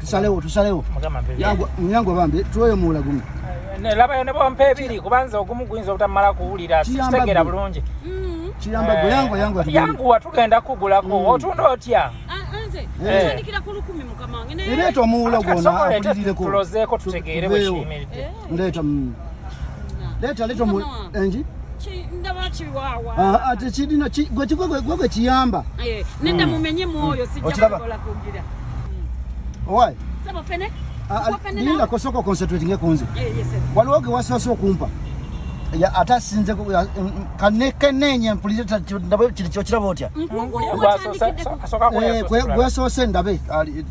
Tusalewo tusalewo. Mugamba mpe. Yangu nyangu bambi tuwe muula gumu. Ne laba yone bo mpe biri kubanza ogumu guinza otamala kuwulira sitegera bulungi. Mm. Kiyamba gwe yangu yangu atugenda. Yangu atugenda kugula ko mm. otunda otya. Ah, Era eto omuwulo gwona akulirireko. Tulozeeko tutegeere bwe kiyimiridde. Eh? Leta mm. leta leta mu enji ate kirina gwe gwe kiyamba eh, nenda mm. mumenye mwoyo mm. sijja kukola kugira owaayi sebo fene ninda kosoko concentrating kunze eh, waliwo ge wasoose okumpa ate asinze kanekenenye mpulire kiri kyokiraba otya gwesoose ndabe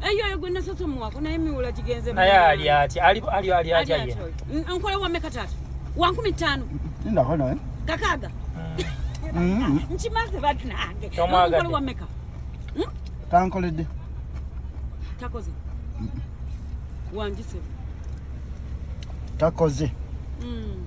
eyo eyo gwe nasose omuwako naye miwula gigenze naye ali atya ali ali ali atya ye nkola wa meka tata wa nkumi ttaano ndako naye kakaaga mm. nkimaze banange nkola wa meka hmm? tankoledde takoze wanjise takoze mm.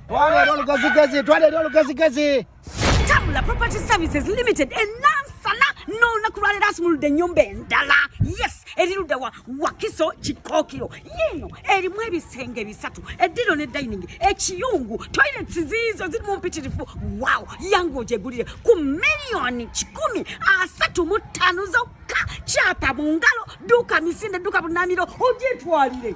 Twala eri olugezigezi, twala eri olugezigezi. Tabula Property Services Limited enansana n'olunaku lwaleero asumuludde ennyumba endala yes eri ludda wa wakiso kikookiro yiino erimu ebisenge bisatu eddiro ne dining ekiyungu toilets ziizo ziri mu mpitirifu wow yange ogyegulire ku miliyoni kikumi asatu mu ttaano zokka kyapa mu ngalo duuka misinde duuka bunamiro ogyetwalire